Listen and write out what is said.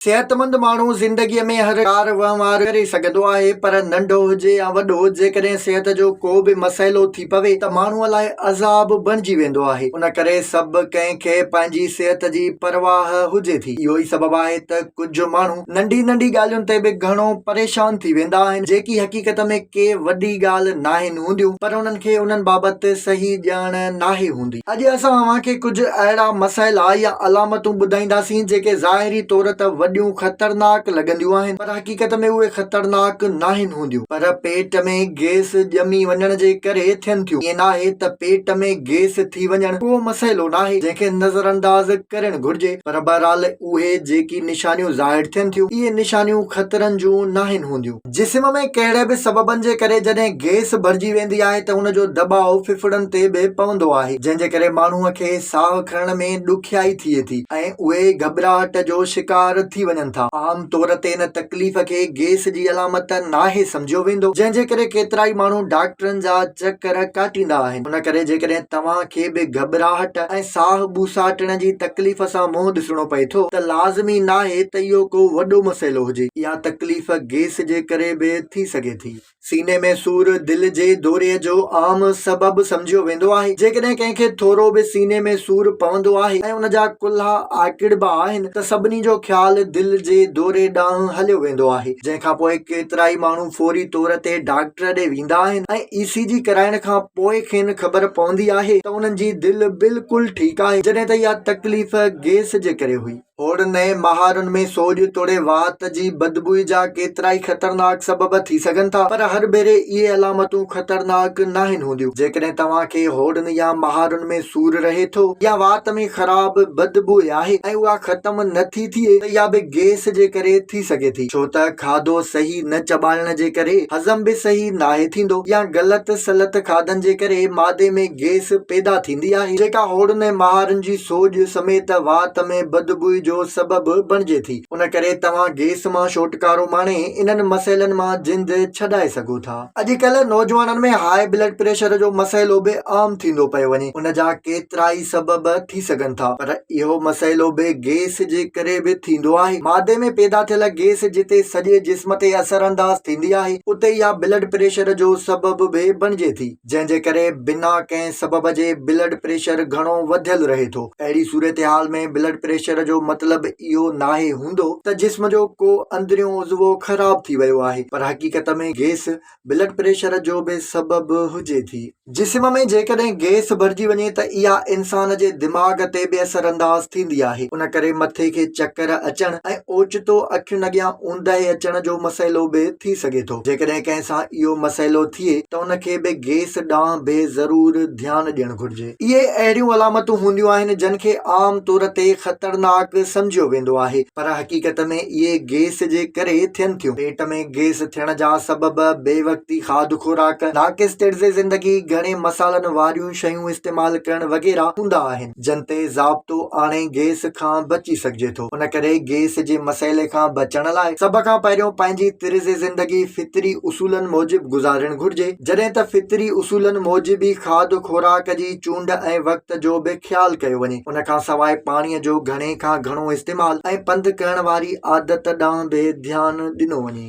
صحتمند ماڻهو زندگيء ۾ هر ڪار وهنوار ڪري سگهندو آهي پر ننڍو هجي يا وڏو، جيڪڏهن صحت جو ڪو به مسئلو ٿي پوي ته ماڻهوء لاء عذاب بڻجي ويندو آهي. ان ڪري سڀ ڪنهن کي پنهنجي صحت جي پرواهه هجي ٿي. اهو ئي سبب آهي ته ڪجهه ماڻهو ننڍي ننڍي ڳالهين تي به گهڻو پريشان ٿي ويندا آهن، جيڪي حقيقت ۾ ڪي وڏي ڳالهه ناهن هونديون پر انهن کي انهن بابت صحيح ڄاڻ ناهي هوندي. اڄ اسان اوهان کي ڪجهه اهڙا مسئلا يا علامتون ٻڌائينداسين جيڪي ظاهري طور ته وڏيون خطرناڪ لڳنديون آهن پر حقيقت ۾ اهي خطرناڪ ناهن هونديون پر پيٽ ۾ گيس ڄمي وڃڻ جي ڪري ٿين ٿيون ائين ناهي ته پيٽ ۾ گيس ٿي وڃڻ ڪو مسئلو ناهي جنهن کي نظرانداز ڪرڻ گهرجي پر بهرحال اهي جيڪي نشانيون ظاهر ٿين ٿيون اهي نشانيون خطرن جون ناهن هونديون. جسم ۾ ڪهڙي به سببن جي ڪري جڏهن گئس ڀرجي ويندي آهي ته ان جو دٻاء ڦڦڙن تي به پوندو آهي جنهن جي ڪري ماڻهو کي ساهه کڻڻ ۾ ڏکيائي ٿئي ٿي ۽ اهي گهٻراهٽ جو شڪار ٿي وڃن ٿا. عام طور تي ان تڪليف کي گئس جي علامت ناهي سمجهيو ويندو جنهن جي ڪري ڪيترائي ماڻهو ڊاڪٽرن جا چڪر ڪاٽيندا آهن. ان ڪري جيڪڏهن توهان کي به گهٻراهٽ ۽ ساهه ٻوساٽڻ جي تڪليف سان منهن ڏسڻو پئي ٿو ته لازمي ناهي ته اهو ڪو وڏو مسئلو هجي. اها تڪليف گيس جي ڪري به ٿي سگهي ٿي. سيني ۾ سور دل جي دوري جو عام سبب سمجهيو ويندو آهي. جيڪڏهن ڪنهن کي ٿورو به سيني ۾ سور پوندو آهي ۽ ان جا ڪلها آڪڙبا آهن ته سڀني جو خيال دل جي دوري ڏانهن هليو ويندو آهي جنهن کانپوء ڪيترائي ماڻهو فوري طور تي ڊاڪٽر ڏي ويندا آهن ۽ اي سي جي ڪرائڻ کان پوء کين خبر پوندي آهي ته انهن جي دل بلڪل ٺيڪ آهي جڏهن ته اها تڪليف گيس جي ڪري هئي. هوڙ نئين مهارن ۾ سوڄ توڙي واهت جي بدبوء جا ڪيترائي خطرناڪ سبب ٿي سگهن ٿا پر هر ڀيري اهي علامتون خطرناڪ ناهن هونديون. جيڪڏهن توهان کي هوڙن يا مهارن ۾ سور رهي ٿو يا وات ۾ خراب بدبوء آهي ۽ اها ختم نه ٿي ٿئي ته اها به گيس جي ڪري ٿي سگهي ٿي ڇو ته کاڌو صحيح نه چٻاڙڻ جي ڪري هضم به صحيح ناهي ٿيندو يا غلط سلت کاڌن جي ڪري معدي ۾ گيس پيدا ٿيندي آهي جيڪا هوڙن ۽ مهارن جي سوڄ سميت وات ۾ بدبوئي جو سبب بڻجي ٿي ان ڪري توهان گيس مان ڇوٽڪارو ماڻي انهن مسئلن مان جند ڇڏائي سگهو ٿا. اڄ ڪلهه نوجوانن ۾ هاء بلڊ پريشر جو مسئلو به عام ٿيندو پيو وڃي. ان جا ڪيترائي سبب ٿي سگهن ٿا پر اهو مسئلو به گئس جي ڪري به ٿيندو آهي. معدي ۾ پيدا ٿيل گئس جتي سڄي جسم تي اثر انداز ٿيندي آهي اتي اها بلڊ پريشر جو سبب به بڻجي ٿي جنهن جي ڪري بنا ڪنهن سبب جي بلڊ پريشر گهڻو وڌيل رهي ٿو اهڙي صورتحال ۾ بلڊ پريشر جو مطلب اهو ناهي هوندو ته جسم جو ڪو اندريون عضوو خراب ٿي ويو آهي پر حقيقت ۾ گئس بلڊ پريشر جو به سبب هجي ٿي. جسم ۾ جيڪڏهن گئس ڀرجي وڃي ته اها انسان جي دماغ تي به اثر انداز ٿيندي آهي ان ڪري مٿي کي چڪر اچڻ ۽ اوچتو اکين اڳيان اونداهي اچڻ جو مسئلو به ٿي سگهي ٿو جيڪڏهن ڪنهن سان اهو مسئلو ٿئي ته ان کي به گئس ڏانهن به ضرور ڌيان ڏيڻ گهرجي. اهي اهڙيون علامتون هونديون آهن جن کي عام طور تي خطرناڪ سمجهيو ويندو آهي پر حقيقت ۾ اهي گيس جي ڪري ٿين ٿيون. پيٽ ۾ گيس ٿيڻ جا سبب، بي وقتي کاڌ خوراڪ، ناقص طرز زندگي، گهڻي مصالحن واريون شيون استعمال ڪرڻ وغيره هوندا آهن جن تي ضابطو آڻي گيس کان بچي سگهجي ٿو. ان ڪري گيس جي مسئلي کان بچڻ لاء سڀ کان پهريون پنهنجي طرز زندگي فطري اصولن موجب گذارڻ گهرجي جڏهن ته فطري اصولن موجب ئي کاڌ خوراڪ جي چونڊ ۽ وقت جو به خيال ڪيو وڃي ان کان سواء پاڻي جو گهڻي کان گهڻو استعمال ۽ پنڌ ڪرڻ واري عادت ڏانهن به ڌيان ڏنو وڃي.